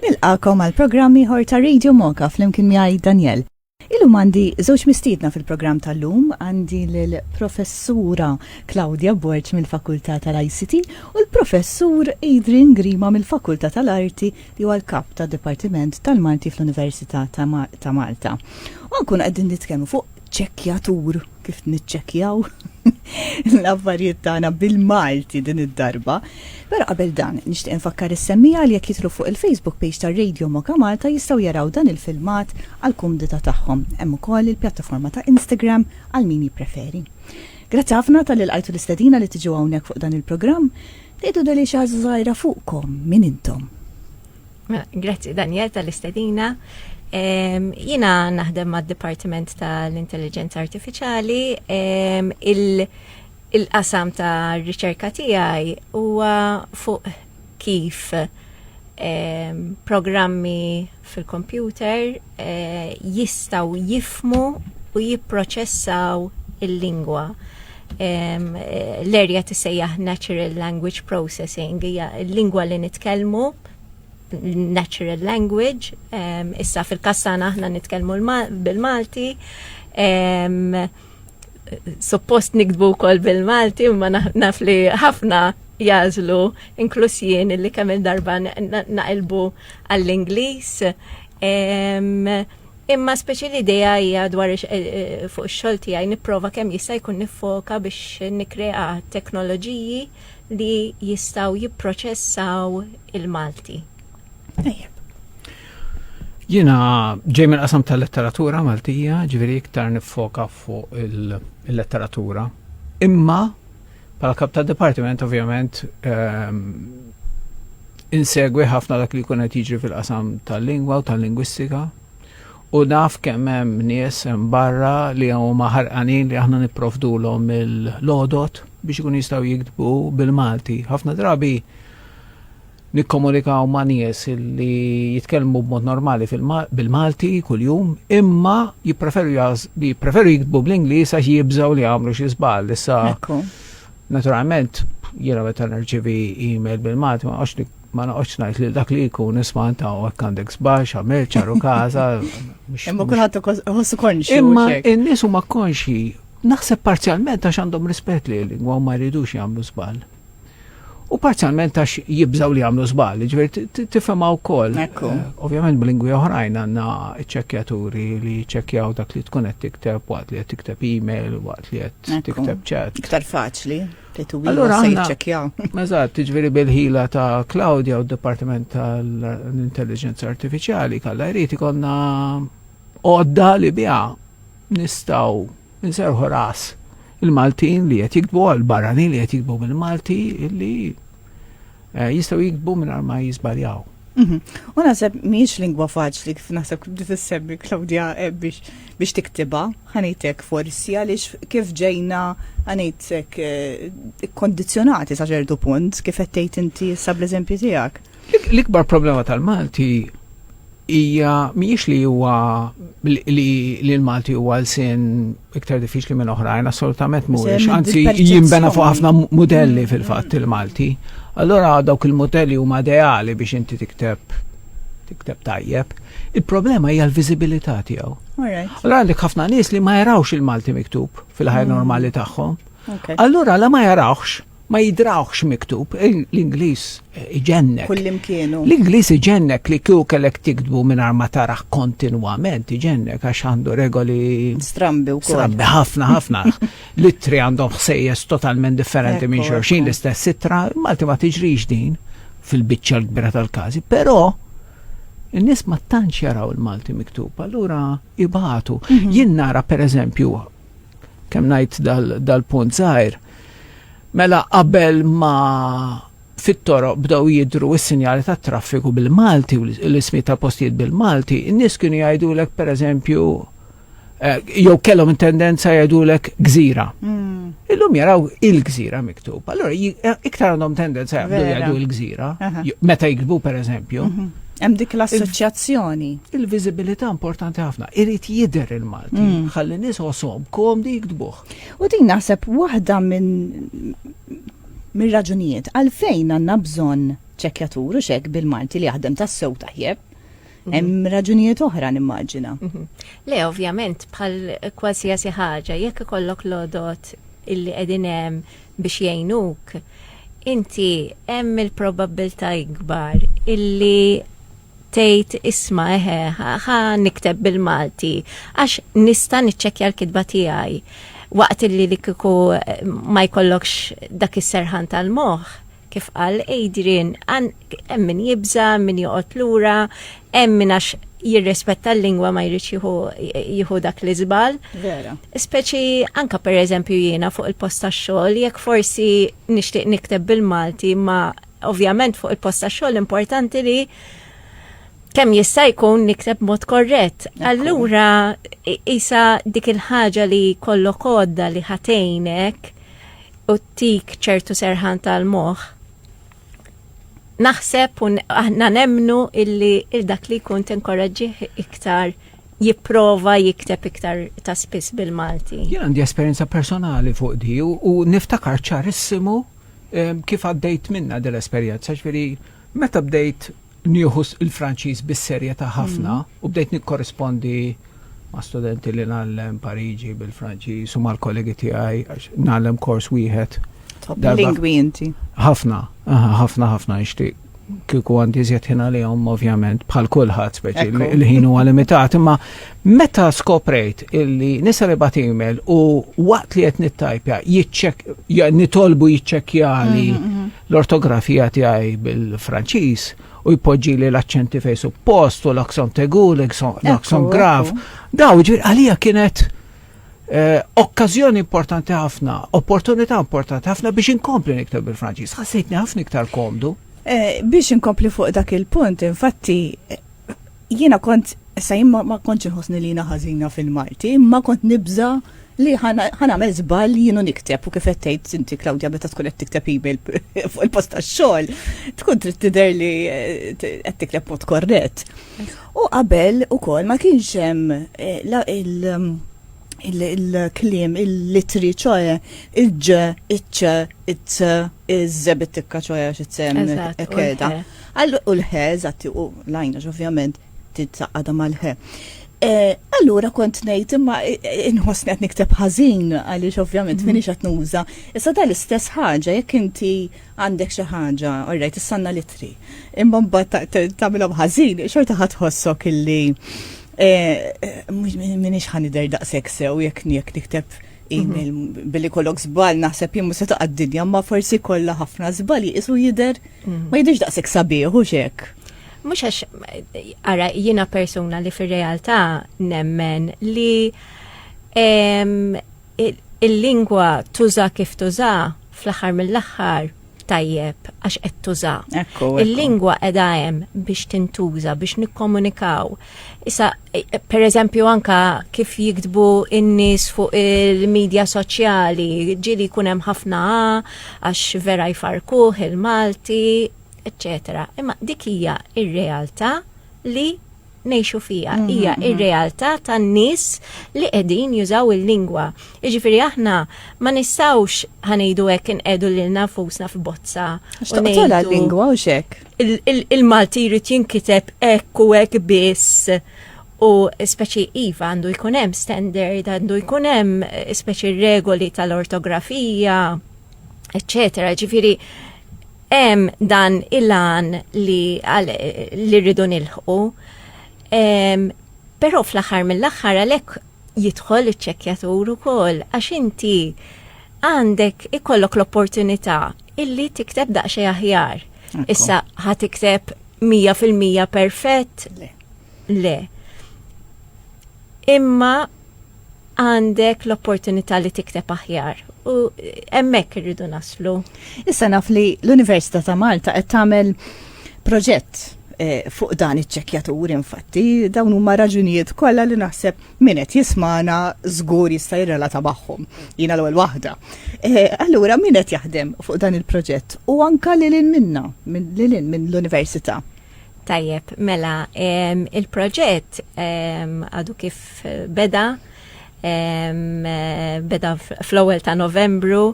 Nilqakom għal programmi ħor ta' Radio Moka fl-imkien miegħi Daniel. Illum għandi żewġ mistiedna fil-programm tal-lum għandi l-professura Claudia Borg mill-Fakultà tal-ICT u l-professur Adrian Grima mill-Fakultà tal-Arti li huwa l-kap ta' Dipartiment tal-Malti fl-Università ta' Malta. U nkun qegħdin nitkellmu fuq ċekjatur kif niċċekkjaw l-affarijiet tagħna bil-Malti din id-darba. Però qabel dan, nixtieq infakkar is-semmija li jekk jitlu fuq il-Facebook page ta' Radio Moka Malta jistgħu jaraw dan il-filmat għal kumdita tagħhom. Hemm ukoll il-pjattaforma ta' Instagram għal min jippreferi. Grazzi ħafna tal ilqajtu l-istedina li tiġu hawnhekk fuq dan il-programm. Tgħidu deli xi ħaġa żgħira fuqkom min intom. Mela, grazzi Daniel tal-istedina. Jina naħdem ma' Dipartiment tal-Intelligenza Artificiali. Il-qasam ta' riċerka tiegħi huwa fuq kif programmi fil-kompjuter eh, jistaw jifmu u jipproċessaw il-lingwa. Eh, l-erja tisejjaħ Natural Language Processing, hija l-lingwa li nitkellmu natural language, um, issa fil-kassana aħna nitkellmu bil-Malti, um, suppost nikdbu kol bil-Malti, ma naf li ħafna jazlu, inklus jien li kemm darba naqilbu għall-Inglis. Um, Imma speċi l-ideja hija dwar eh, eh, fuq ix-xogħol tiegħi nipprova kemm jista' jkun nifoka biex nikkrea teknoloġiji li jistgħu jipproċessaw il-Malti. Tajjeb. Jiena ġej mill-qasam tal-letteratura Maltija, ġifieri iktar niffoka fuq il-letteratura. Imma Pala kap ta' departiment, ovvjament, ehm, insegwi ħafna dak li kunet jiġri fil-qasam tal-lingwa u tal-lingwistika. U naf kemm hemm nies hemm barra li huma ħerqanin li aħna nipprovdulhom il-għodod biex ikunu jistgħu jiktbu bil-Malti. Ħafna drabi nikkomunikaw ma' nies li jitkellmu b'mod normali bil-Malti kuljum, imma jippreferu jiktbu bl-Ingliż għax jibżgħu li jagħmlu xi żball. Issa, naturalment, jiena meta nirċivi email bil-Malti ma għax ma noqgħodx ngħid li dak li jkun isma' anta hekk għandek sbax, għamel ċaru każa. Imma kulħadd iħossu konxi. Imma n-nies huma konxi, naħseb parzjalment għax għandhom rispett li l-lingwa u ma jridux jagħmlu żball. U parzjalment għax jibżaw li jagħmlu żball, ġifieri tifhemha wkoll. Eh, ovvjament b'lingwi oħrajn għandna ċekkjaturi li ċekkjaw dak li tkun qed tikteb waqt li qed tikteb email, waqt li qed tikteb ċat. Iktar faċli. Allora jiċċekjaw. Eżatt, tiġveri bil-ħila ta' Claudia u d-Dipartiment tal-Intelligenza Artificiali kalla jrid ikonna għodda li biha nistaw nserħu ras il-Maltin li qed jikbu għal-barranin li qed jikbu mill-Malti li eh, jistgħu jiktbu mingħajr ma jiżbaljaw. Mhm. U naħseb miex lingwa faċli kif naħseb kif tissemmi Claudia eh, biex biex tiktiba, ħanitek forsi għaliex kif ġejna ħanitek eh, kondizjonati sa ċertu punt kif qed tgħid inti issa bl-eżempju tiegħek. L-ikbar problema tal-Malti hija mhijiex li huwa li l-Malti huwa l-sin iktar diffiċli minn oħrajn, assolutament mhuwiex. Anzi, jimbena fuq ħafna modelli mm. fil-fatt il-Malti. Allora dawk il-modelli huma ideali biex inti tikteb tikteb tajjeb. Il-problema hija l-viżibilità tiegħu. Allora għandek ħafna nies li ma jarawx il-Malti miktub fil-ħajja mm. normali tagħhom. Allura la ma jarawx Ma jidrawhx miktub, l-Ingliż iġennek. Kullimkien hu. L-Ingliż iġennek li kieku kellek tiktbu mingħajr ma tarah kontinwament, iġennek għax għandu regoli. Strambi wkoll. Strambi ħafna ħafna. L-ittri għandhom ħsejjes totalment differenti minn xulxin l-istess ittra, Malti ma tiġrix din fil-biċċa l-kbira tal-każi, però in-nies ma tantx jaraw il-Malti miktub, allura ibatu. Mhm. Jien nara pereżempju kemm ngħid dal-punt żgħir, mela qabel ma fit-toroq bdew jidru s-sinjali tat traffiku bil-Malti u l-ismi ta' postijiet bil-Malti, in-nies kienu jgħidulek pereżempju eh, jew kellhom tendenza jgħidulek gżira. Hmm. Illum jaraw il-gżira miktub. Allora eh, iktar għandhom tendenza jgħidu jgħidu il-gżira meta jiktbu pereżempju. Mhm. Hemm dik l-assoċjazzjoni. Il-viżibilità importanti ħafna. Irid jidher il-Malti. Mm. Ħalli nies osom komdi jiktbuh. U din naħseb waħda minn mir-raġunijiet għalfejn għandna bżonn ċekjatur u xek bil-Malti li jaħdem tas-sew taħjeb. Mhm. Hemm raġunijiet oħra nimmaġina. Mhm. Le, ovvjament, bħal kwasjasi ħaġa, jekk ikollok lodot illi qegħdin hemm biex jgħinuk, inti hemm il-probabbiltà ikbar illi tgħid isma' eħe ħa nikteb bil-Malti għax nista' niċċekkja l-kitba tiegħi waqt illi li kieku ma jkollokx dak is-serħan tal-moħħ Kif qal Adrian, hemm min jibża', hemm min joqgħod lura, hemm min għax jirrispetta l-lingwa ma jridx jieħu dak l-iżbal. Vera. Speċi anka per eżempju jiena fuq il-post tax-xogħol, jekk forsi nixtieq nikteb bil-Malti, ma ovvjament fuq il-post tax-xogħol importanti li kemm jista' jkun nikteb mod korrett. Allura isa dik il-ħaġa li kollok għodda li ħatejnek u tik ċertu serħan tal-moħ, naħseb un aħna nemnu illi il-dak li jkun tinkoraġġih iktar jipprova jikteb iktar ta' spiss bil-Malti. Jien għandi esperjenza personali fuq di u niftakar ċarissimu kif għaddejt minna dell-esperjenza, ġveri Meta bdejt nieħu l-Franċiż bis-serjetà ħafna u bdejt nikkorrispondi ma' studenti li ngħallem Pariġi bil-Franċiż u mal-kollegi tiegħi għax ngħallem kors wieħed. Lingwi inti. Ħafna, ħafna ħafna nixtieq kieku għandi żjed ħin għalihom ovvjament bħal kulħadd speċi il-ħin huwa limitat, imma meta skoprejt illi nisa li bat email u waqt li qed nittajpja nitolbu jiċċekkjali mm-hmm, mm-hmm. L-ortografija tiegħi bil-Franċiż u jpoġġili l-aċċenti fejn suppost u l-akson tegu, l-akson graf. Daw ġifieri għalija kienet eh, okkażjoni importanti ħafna, opportunità importanti ħafna biex inkompli niktab bil-Franċiż. Ħassejtni ħafna iktar komdu. Eh, biex inkompli fuq dak il-punt, infatti Jiena kont, issa jien ma kontx inħossni li jiena ħażina fil-Malti, imma kont nibża' li ħa nagħmel żball jien u nikteb u kif qed tgħid inti Claudia meta tkun qed tikteb email fuq il-post tax-xogħol tkun trid tidher li qed tikteb b'mod korrett. U qabel ukoll ma kienx hemm il- il-klim, il-litri, ċoħe, il-ġ, il-ċ, il-ċ, il-ż, bit-tikka ċoħe għax it-sem, ekkeda. All u l-ħe, eżatt, u l-għajnax ovvjament titsaqqadha mal-ħe. Allura kont ngħid imma inħossni qed nikteb ħażin għaliex ovvjament mhm. minix qed nuża. Issa dan l-istess ħaġa jekk inti għandek xi ħaġa, orrejt tissanna litri. Imma mbagħad tagħmilhom ħażin, xorta ħadd ħossok illi eh, minix ħanider daqshekk sew jekk jekk nikteb email mhm. billi kollok żball naħseb jimmu se taqgħad dinja ma forsi kollha ħafna żball jisu jidher Ma jidhirx daqshekk sabiħ hux hekk. Mhux għax ara jiena persuna li fir-realtà nemmen li il-lingwa tuża kif tuża fl-aħħar mill-aħħar tajjeb għax qed tuża. Il-lingwa qiegħda hemm biex tintuża biex nikkomunikaw. Issa per eżempju anka kif jiktbu in-nies fuq il-medja soċjali, ġili jkun hemm ħafna għax vera jfarkuh il-Malti, eccetera. Imma dik hija ir-realtà li nejxu fija. Mhm, hija mhm. ir-realtà tan-nies li qegħdin jużaw il-lingwa. Jiġifieri aħna ma nistgħux ħanejdu hekk inqedu lil nafusna f'bozza. X'toqtolha l-lingwa u xek. il-Malti jrid jinkiteb hekk u hekk biss u speċi iva għandu jkun hemm standard, għandu jkun hemm eh, speċi regoli tal-ortografija, eccetera. Ġifieri hemm dan il-għan li, li rridu nilħqu. Però fl-aħħar mill-aħħar għalhekk jidħol iċ-ċekkjatur ukoll għax inti għandek ikollok l-opportunità illi tikteb daqsxejn aħjar. Issa ħa tikteb 100% perfett? Le. Le. Imma għandek l-opportunità li tikteb aħjar u hemmhekk irridu naslu. Issa naf li l-Università ta' Malta qed tagħmel proġett eh, fuq dan iċ-ċekjatur infatti dawn huma raġunijiet kollha li naħseb min qed jismana żgur jista' jirrelata magħhom. Jiena l-ewwel waħda. Eh, allura min qed jaħdem fuq dan il-proġett u anka lil minna, lil minn l-università. Tajjeb, mela, il-proġett għadu kif beda, beda fl-ewwel ta' Novembru,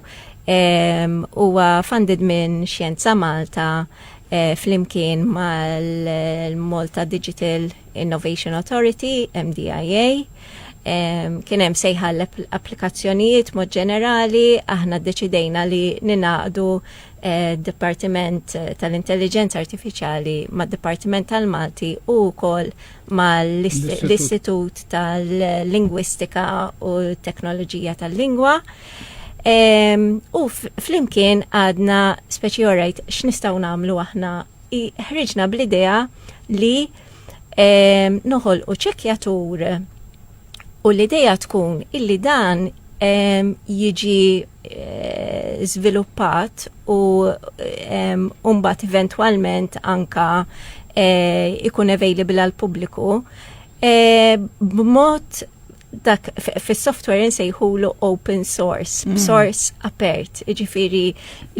huwa funded minn Xjenza Malta eh, flimkien mal-Malta Digital Innovation Authority, MDIA, kien hemm sejħa l-applikazzjonijiet mod ġenerali, aħna ddeċidejna li ninaqdu eh, Dipartiment tal-Intelligenza Artifiċjali mad Dipartiment tal-Malti u wkoll mal-Istitut tal-Lingwistika u Teknoloġija tal-Lingwa. U flimkien għadna speċi orajt x'nistgħu nagħmlu aħna ħriġna bl-idea li ehm, noħol u ċekjatur u l-idea tkun illi dan ehm, jiġi żviluppat eh, u ehm, mbagħad eventwalment anka eh, ikun available għal pubbliku eh, b'mod dak fis-software insejħulu open source, mm. source apert, ġifiri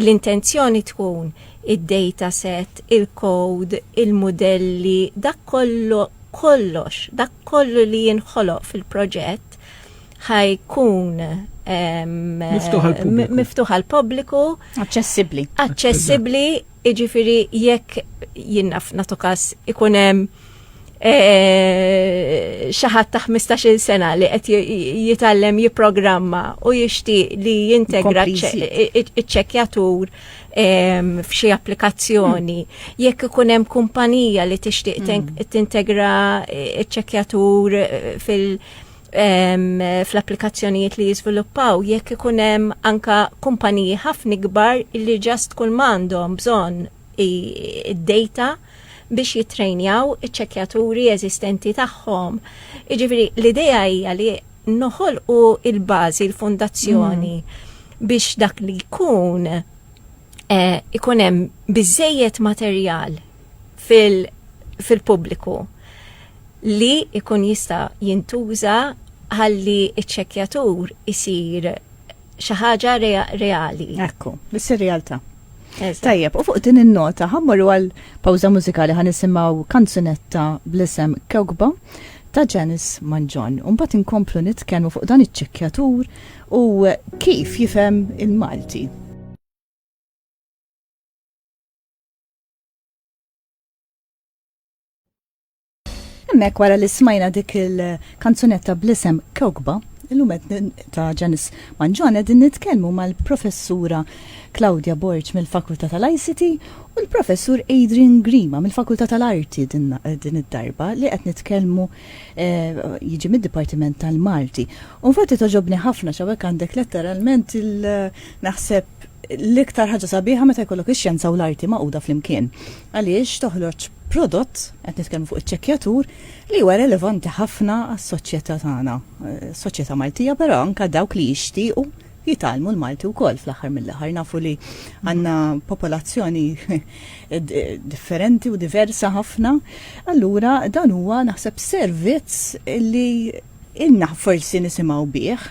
l-intenzjoni tkun id-data set, il-code, il-modelli, dak kollu kollox, dak kollu li jinħoloq fil-proġett ħajkun miftuħ għal pubbliku Aċċessibbli. Aċċessibbli, iġifiri jekk jinnaf natu kas ikunem Eh, xaħat ta' 15 sena li qed jitallem jiprogramma u jixtieq li jintegra ċ-ċekjatur f'xi applikazzjoni. Jekk ikun hemm kumpanija li tixtieq mm. tintegra ċ-ċekjatur eh, fil- fl-applikazzjonijiet li jiżviluppaw jekk ikun hemm anka kumpaniji ħafna kbar li ġast kull m'għandhom bżonn id-data biex jittrejnjaw iċ-ċekjaturi eżistenti tagħhom. Jiġifieri l-idea hija li noħolqu il-bażi, il-fondazzjoni mm. biex dak li jkun eh, ikun hemm biżejjed materjal fil-pubbliku li ikun jista' jintuża ħalli iċ-ċekjatur isir xi ħaġa reali. Ekku, biss ir-realtà. Tajjeb, u fuq din in-nota ħammorru għal pawża mużikali ħan nisimgħu kanzunetta bl-isem Kewkba ta' Janice Manġon. Umbat inkomplu nitkellmu fuq dan iċ-ċekkjatur u kif jifhem il-Malti. Hemmhekk wara li smajna dik il-kanzunetta bl-isem Kewkba, illum qed ta' Ġanis Manġon qegħdin nitkellmu mal-Professura Claudia Borg mill-Fakultà tal-ICT u l-Professur Adrian Grima mill-Fakultà tal-Arti din id-darba li qed nitkellmu eh, jiġi mid-Dipartiment tal-Malti. U infatti togħġobni ħafna għax hawnhekk għandek letteralment il naħseb l-iktar ħaġa sabiħa meta jkollok ix-xjenza u l-arti magħquda flimkien. Għaliex toħroġ prodott, qed nitkellmu fuq iċ-ċekkjatur, li huwa relevanti ħafna għas-soċjetà tagħna, soċjetà Maltija, però anke dawk li jixtiequ jitgħallmu l-Malti wkoll fl-aħħar mill-aħħar. Nafu li għandna popolazzjoni differenti u diversa ħafna. Allura dan huwa naħseb servizz li Ilna forsi nisimgħu bih,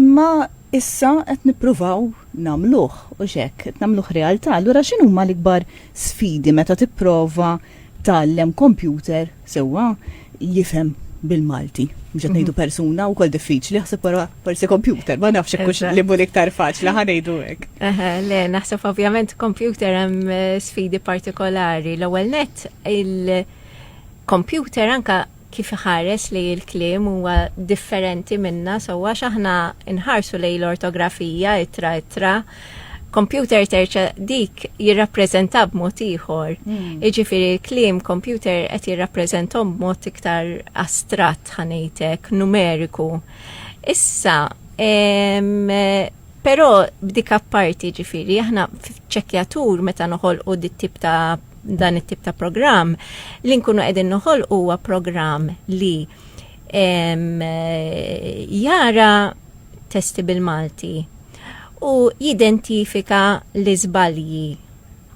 imma issa qed nippruvaw nagħmluh, hux hekk, qed nagħmluh realtà. Allura x'inhuma l-ikbar sfidi meta tipprova tgħallem kompjuter sewwa jifhem bil-Malti? Mhux qed ngħidu persuna wkoll diffiċli, aħseb wara forsi kompjuter, ma nafx hekk hux li mhu l-iktar faċli ħa ngħidu hekk. Eħe, le, naħseb ovvjament kompjuter hemm eh, sfidi partikolari. L-ewwel nett il- kompjuter anka kif iħares li l-kliem huwa differenti minna sewwa għax aħna nħarsu lejn l-ortografija ittra ittra computer terċa dik jirrappreżenta b'mod ieħor. Hmm. Iġifiri, klim computer qed jirrappreżentom b'mod iktar astrat ħanejtek, numeriku. Issa, però b'dik apparti ġifiri, aħna ċekjatur meta noħolqu dit tip ta' dan it-tip ta' programm li nkunu qegħdin noħol huwa programm li jara testi bil-Malti u jidentifika l-iżbalji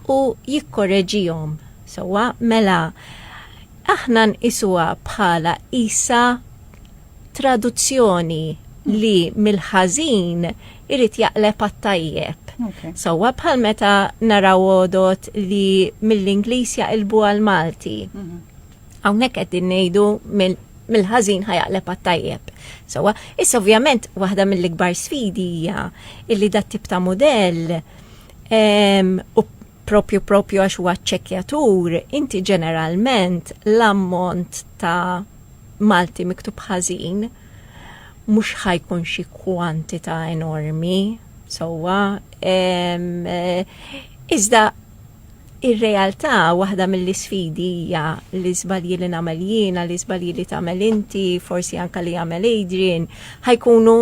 u jikkoreġihom. Sewwa mela aħna nqisuha bħala isa traduzzjoni li mill-ħażin irid jaqleb għat-tajjeb. Sewwa bħal meta naraw għodot li mill-Ingliż jaqilbu għal Malti. Mhm. Hawnhekk qed ngħidu mill-ħażin ħajaqleb għat-tajjeb. Sewwa, issa ovvjament waħda mill-ikbar sfidi hija illi dat tip ta' mudell u propju propju għax huwa ċċekkjatur, inti ġeneralment l-ammont ta' Malti miktub ħażin mhux ħa jkun xi kwantità enormi sewwa. Iżda ir-realtà waħda mill-isfidi hija l-iżbalji li nagħmel jiena, l-iżbalji li tagħmel inti, forsi anke li jagħmel Adrian, ħa jkunu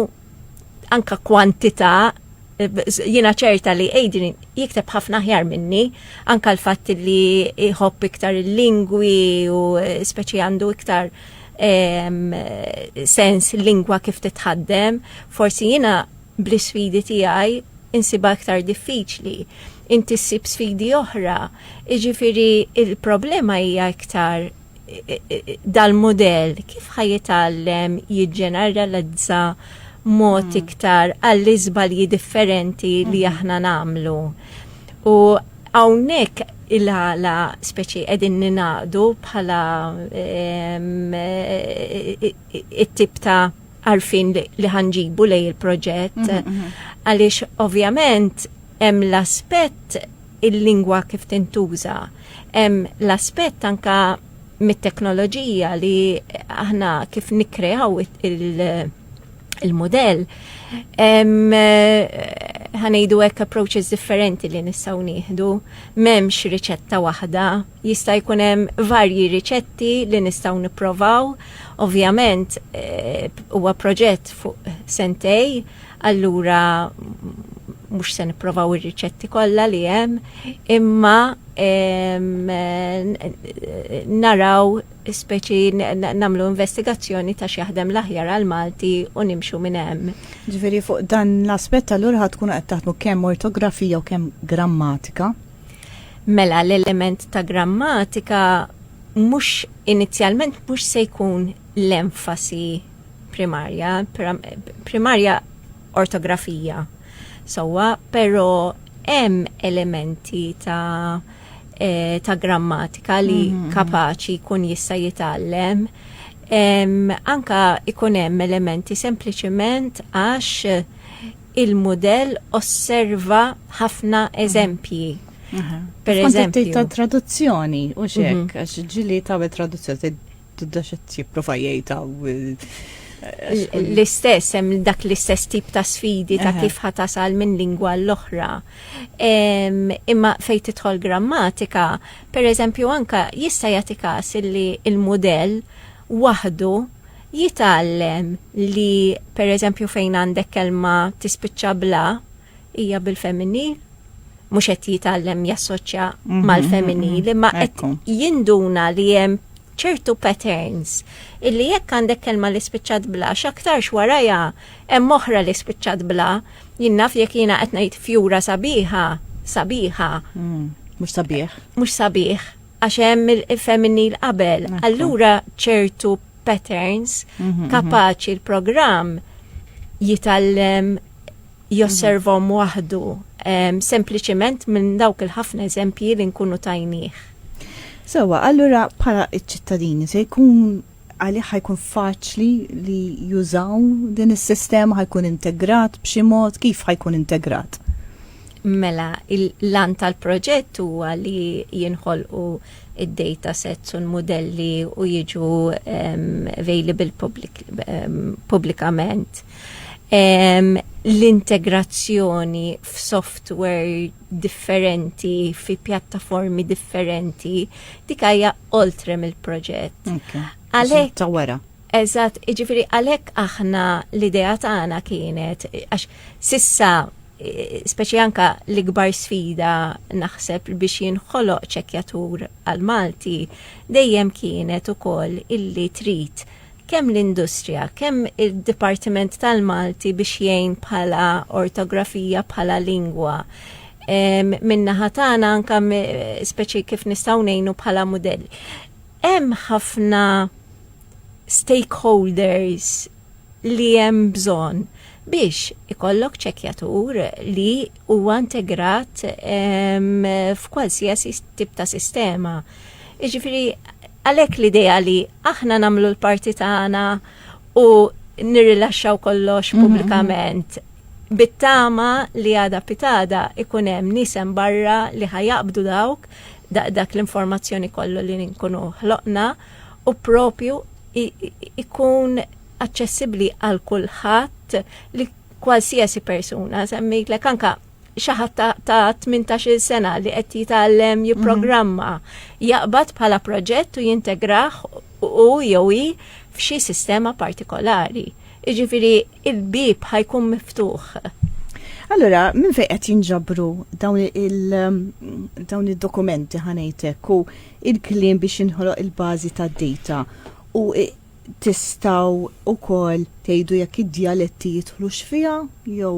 anka kwantità jina ċerta li Adrian jikteb ħafna ħjar minni, anka l-fatt li jħobb iktar il-lingwi u speċi għandu iktar sens lingwa kif titħaddem, forsi jina bl-sfidi tiegħi insiba iktar diffiċli. Inti ssib sfidi oħra, iġifiri il-problema hija iktar dal-mudell kif ħajitgħallem jiġġeneralizza mod iktar għall-iżbalji differenti li aħna nagħmlu. U hawnhekk il-għala speċi qegħdin ninaqdu bħala it-tip ta' għarfien li ħanġibu lej il-proġett għaliex ovvjament hemm l-aspett il-lingwa kif tintuża. Hemm l-aspett anke mit-teknoloġija li aħna kif nikkreaw il-mudell ħanejdu hekk approaches differenti li nistgħu nieħdu, m'hemmx riċetta waħda, jista' jkun hemm varji riċetti li nistgħu nipprovaw. Ovvjament eh, huwa proġett fuq sentej, allura mhux se nipprovaw ir-riċetti kollha li hemm, imma naraw speċi namlu investigazzjoni ta' x'jaħdem l-aħjar għal Malti u nimxu minn hemm. Ġifieri fuq dan l-aspett allura ħad tkunu qed taħdmu kemm ortografija u kemm grammatika. Mela l-element ta' grammatika mhux inizjalment mhux se jkun l-enfasi primarja, primarja ortografija sowa, pero hemm elementi ta' eh, ta' grammatika li mm -hmm. kapaċi kun jista' jitgħallem. Anka ikun hemm elementi sempliċement għax il-modell osserva ħafna mhm. eżempji. Mhm. Per eżempju. ta' traduzzjoni, u xek, mhm. għax ġili ta' traduzzjoni, Tibda xed jipprova jgħid l-istess, hemm dak l-istess tip ta' sfidi ta' kif ħatasal minn lingwa l-oħra. Imma fejn tidħol grammatika, per eżempju anka jista' jagħti każ li il-mudell waħdu jitgħallem li per eżempju fejn għandek kelma tispiċċa bla, hija bil-femminil, mhux qed jitgħallem jassoċja mhm, mal-femminil, mhm, imma qed jinduna li hemm ċertu patterns illi jekk għandek kelma li spiċċat bla x'aktarx warajha hemm oħra li spiċċat bla jinnaf jekk jiena qed ngħid fjura sabiħa sabiħa. Mm, mhux sabiħ. Mhux sabiħ għax hemm il-femminil qabel. Allura ċertu patterns mhm, mhm. kapaċi l-programm jitallem josservahom waħdu, sempliċement minn dawk il-ħafna eżempji li nkunu tajnieh. Sewwa, allura bħala ċ-ċittadini se jkun għalih ħajkun faċli li jużaw din is-sistema ħajkun integrat b'xi mod kif ħajkun integrat? Mela, l-lan tal-proġett huwa li jinħolqu id-data sets u l-modelli u jiġu available publikament. l-integrazzjoni f'software differenti, fi pjattaformi differenti, dik hija oltre mill-proġett. Għalhekk ta' wara. Eżatt, jiġifieri għalhekk aħna l-idea tagħna kienet għax sissa speċi anka l-ikbar sfida naħseb biex jinħoloq ċekjatur għal Malti dejjem kienet ukoll illi trid kemm l-industrija, kemm id-dipartiment tal-Malti biex jgħin bħala ortografija, bħala lingwa. Min-naħa tagħna anke speċi kif nistgħu ngħinu bħala mudell. Hemm ħafna stakeholders li hemm bżonn biex ikollok ċekjatur li huwa integrat f'kwalsiasi tip ta' sistema. Jiġifieri għalhekk l-idea li aħna nagħmlu l-parti tagħna u nirrilaxxaw kollox mhm. pubblikament bit-tama li għada pitada ikun hemm nisem barra li ħajaqbdu dawk dak l-informazzjoni kollu li nkunu ħloqna u propju ikun aċċessibbli għal kulħadd li kwalsiasi persuna semmejtlek anka xi ħadd ta' 18-il sena li qed jitgħallem mhm. jipprogramma jaqbad bħala proġett u jintegrah u jew hi f'xi sistema partikolari. Iġifieri il-bib ħajkun miftuħ. Allora, minn fejn qed jinġabru dawn il-dawn id-dokumenti ħanejtek u il-kliem biex inħoloq il-bażi tad-data u tistaw u kol tejdu jekk id-dialetti jitħlux fija jew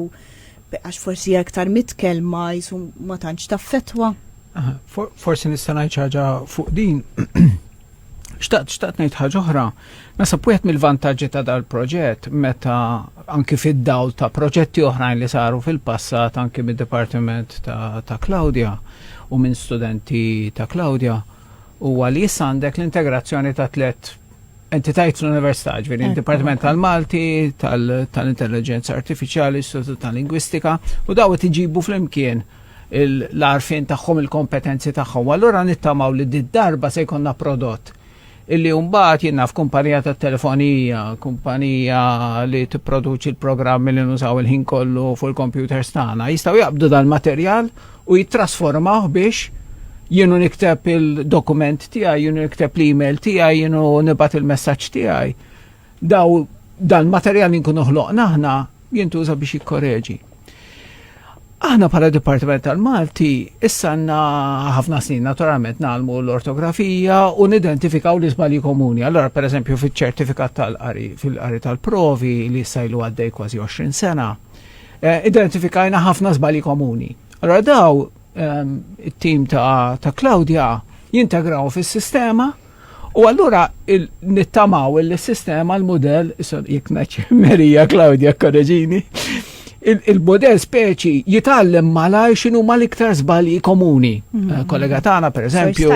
Għax forsi hija iktar mitkellma qisu ma tantx taffettwa. Forsi nista' ngħid xi ħaġa fuq din. Xtaqt, xtaqt ngħid ħaġa oħra. Nasab wieħed mill-vantaġġi ta' dal-proġett meta anki fid-dawl ta' proġetti oħrajn li saru fil-passat anki mid-Dipartiment ta', ta Claudia u minn studenti ta' Claudia huwa li issa għandek l-integrazzjoni ta' tliet entitajiet l-Università, ġveri, eh, il-Dipartiment tal-Malti, tal-Intelligenza Artificiali, Istitut tal-Lingwistika, u daw qed iġibu flimkien l-arfin tagħhom il-kompetenzi tagħhom. Allura nittamaw li d darba se jkollna prodott illi mbagħad jinnaf kumpanija ta' telefonija, kumpanija li tipproduċi l-programmi li nużaw il-ħin kollu fuq il-computers tagħna, jistgħu jaqbdu dal-materjal u jittrasformawh biex jienu nikteb il-dokument tiegħi, jienu nikteb l-email tiegħi, jienu nibat il-messaġġ tiegħi. Daw dan materjal li nkunu ħloqna aħna jintuża biex jikkoreġi. Aħna bħala Dipartiment tal-Malti issa għandna ħafna snin naturalment nagħlmu l-ortografija u nidentifikaw l-iżbalji komuni. Allora pereżempju fiċ-ċertifikat tal-qari fil-qari tal-provi li sajlu għaddej kważi 20 sena eh, identifikajna ħafna żbali komuni. Allora daw ehm, it-tim ta', ta Claudia jintegraw fis-sistema U allura nittamaw il-sistema, l-modell, jek naċ Merija Claudia Korreġini, il-modell speċi jitallem malaj xinu ma l-iktar zbali komuni. Mhm. Eh, kollega tana, per eżempju.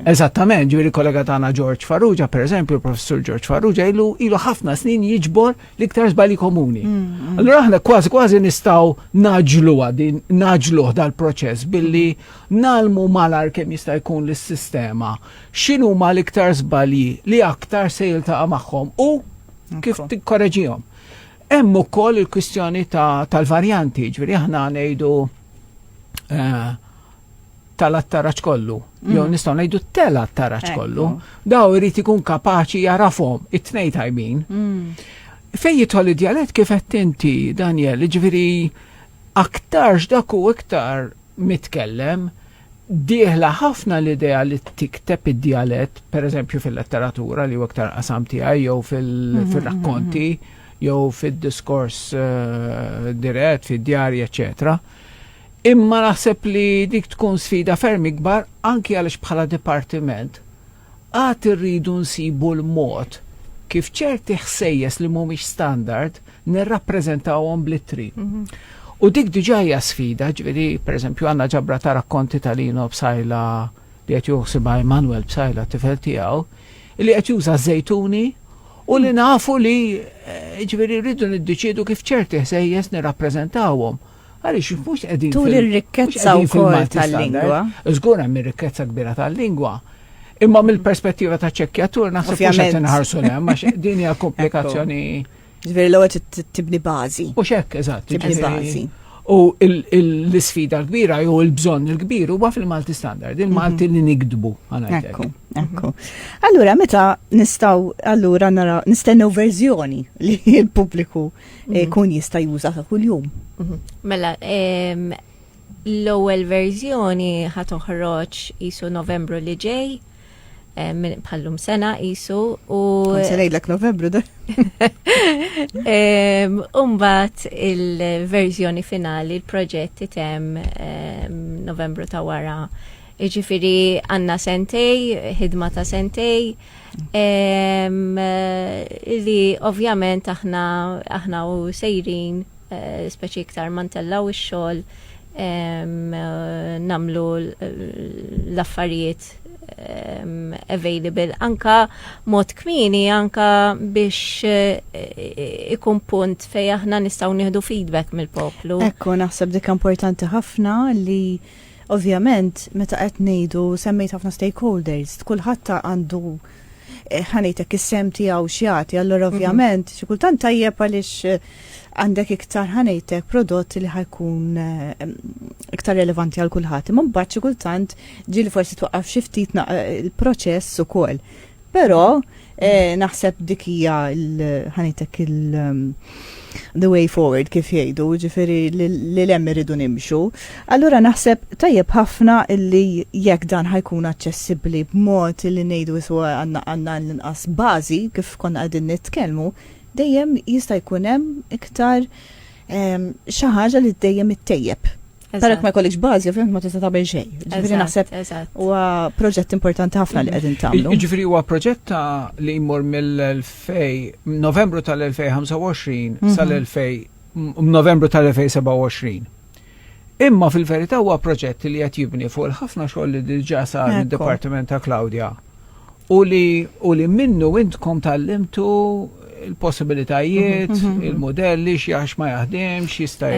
Eżattament, ġviri kollega tana George Farrugia, per eżempju, professor George Farrugia, ilu ħafna snin jiġbor l-iktar żbali komuni. Mm, mm. Allora aħna kważi kważi nistgħu naġlu għadin, naġlu dal-proċess billi nalmu malar kemm jista' jkun l-sistema x'inhu ma l-iktar żbalji li aktar se jiltaqa' magħhom u kif tikkoreġihom. Hemm ukoll il-kwistjoni tal-varjanti, ġifieri aħna ngħidu eh, tal-attaraġġ kollu, jew mm. nistgħu ngħidu tel-attaraġġ kollu, daw irid ikun kapaċi jarafhom it-tnej tajbin. Mm. Fejn jidħol id-djalett kif qed inti, Daniel, ġifieri aktarx dak u iktar mitkellem, dieħla ħafna l-idea li tikteb id-dialett, per eżempju fil-letteratura li waktar iktar qasam tiegħi jew mhm, fil-rakkonti mhm, mhm. jew fid-diskors eh, dirett, fid-djarji, eċċetera Imma naħseb li dik tkun sfida ferm ikbar anki għaliex bħala dipartiment għad irridu nsibu l-mod kif ċerti ħsejjes li mhumiex standard nirrappreżentawhom bl-ittri. U dik diġà hija sfida, ġifieri pereżempju għandna ġabra ta' rakkonti ta' Lino Psaila li qed jieħu ħsiebha Emanuel Psaila t-tifel tiegħu, li qed juża ż-żejtuni u li nafu li eh, ġifieri rridu niddeċiedu kif ċerti ħsejjes nirrappreżentawhom. Għaliex mhux qegħdin Tul ir-rikkezza wkoll tal-lingwa. Żgur hemm ir-rikkezza kbira tal-lingwa. Imma mill-perspettiva ta' ċekkjatur naħseb mhux qed inħarsu hemm għax din hija komplikazzjoni. Ġifieri l-ewwel tibni bażi. U x'hekk eżatt. Tibni bażi. U l-isfida l-kbira jew il-bżonn il-kbir huwa fil-Malti standard, il-Malti mhm. li nikdbu. Ekku, ekku. Allura meta nistgħu allura nara nistennew verżjoni li l-pubbliku eh, kun jista' juża ta' kuljum. Mhm. Mela, l-ewwel verżjoni ħa toħroġ isu Novembru li ġej Eh, minn bħallum sena jisu u. Konsenejlek novembru da. Umbat il-verżjoni finali, il-proġett item novembru ta' wara. Iġifiri għanna sentej, ħidma ta' sentej, Li ovvjament aħna aħna u sejrin eh, speċi iktar mantella u x-xogħol namlu l-affarijiet available anka mod kmini anka biex eh, ikun punt fej aħna nistgħu nieħdu feedback mill-poplu. Ekku naħseb dik importanti ħafna li Ovvjament, meta qed ngħidu, semmejt ħafna stakeholders, kulħadd għandu, ħa ngħid hekk, is-sehem tiegħu x'jagħti, allura ovvjament xi kultant tajjeb għaliex għandek iktar, ħa ngħid hekk, prodott li ħa jkun iktar relevanti għal kulħadd. Imma mbagħad xi kultant ġieli forsi twaqqaf xi ftit il-proċess ukoll. Però eh, naħseb dik hija ħanitek il um, the way forward kif jgħidu, ġifieri li lem irridu nimxu. Allura naħseb tajjeb ħafna illi jekk dan ħajkun aċċessibbli b'mod li ngħidu iswa għandna għandna l-inqas bażi kif konna qegħdin nitkellmu, dejjem jista' jkun hemm iktar ehm, xi ħaġa li dejjem ittejjeb Perek ma jkollix bażi, ovvjament ma tista' tagħmel xejn. Ġifieri naħseb huwa proġett importanti ħafna li qegħdin tagħmlu. Ġifieri huwa proġett li jmur mill-2000 Novembru tal-2025 mhm. sal-2000 Novembru tal-2027. Imma fil-verità huwa proġett li qed jibni fuq il-ħafna xogħol li diġà sar mid-Dipartiment ta' Claudia. u li, u li minnu intkom tal-limtu il-possibilitajiet, mhm, mhm, il-modelli, xiex ma jaħdimx, jista'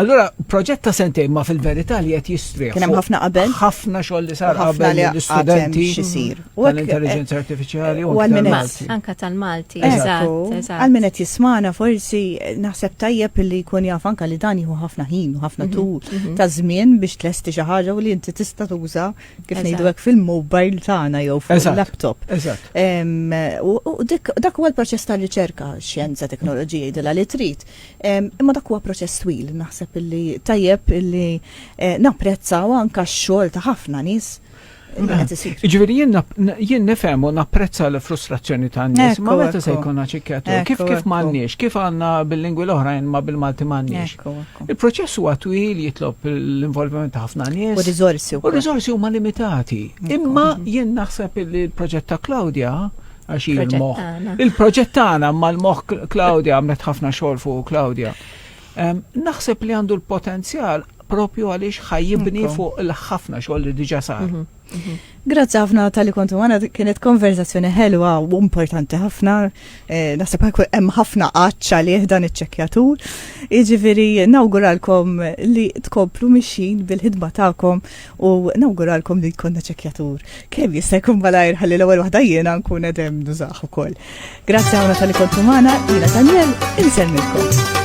Allura, proġett ta' sentejn ma fil-verità li qed jistrieħ. Kien hemm ħafna qabel. Ħafna xogħol li sar qabel l-istudenti xisir. U l-intelligenza eh, artifiċjali u għal-Malti. Anka tal-Malti, eżatt. Għal min qed jismana forsi naħseb tajjeb li jkun jaf anka li dan jieħu ħafna ħin u ħafna mhm, tul ta' żmien biex tlesti xi ħaġa u li inti tista' tuża kif ngħidu hekk fil-mobile tagħna jew fil-laptop. Eżatt. U dak huwa l-proċess ta' riċerka, xjenza, teknoloġija jidilha li trid. Imma dak huwa proċess twil, naħseb illi tajjeb illi eh, napprezzaw anka x-xogħol ta' ħafna nies. Ġviri jien nifhem u napprezza l-frustrazzjoni ta' nies, ma meta se jkun ċikketu, kif kif m'għandniex, kif għandna bil-lingwi l-oħrajn ma bil-Malti m'għandniex. Il-proċess huwa twil jitlob l-involviment ta' ħafna nies. U riżorsi U riżorsi huma limitati. Imma jien naħseb li l-proġett ta' Claudia għax il-moħ. Il-proġett tagħna mal-moħ Claudia għamlet ħafna xogħol fuq Claudia. Naħseb li għandu l-potenzjal propju għaliex ħajibni fuq il-ħafna xogħol li diġa sar. Mhm, mhm. Grazzi ħafna tal-li kontu għana, kienet konverzazzjoni ħelwa u importanti ħafna. Eh, Nasib hemm ħafna qaċċa li dan iċċekjatur. Iġifiri, nawguralkom li tkomplu mixin bil-ħidma tagħkom u nawguralkom li jkollna ċekjatur. Kemm jista' jkun malajr ħalli l-ewwel waħda jiena nkun edem nużaħ ukoll. Grazzi ħafna tal-li kontu għana, jiena Daniel, insemmilkom.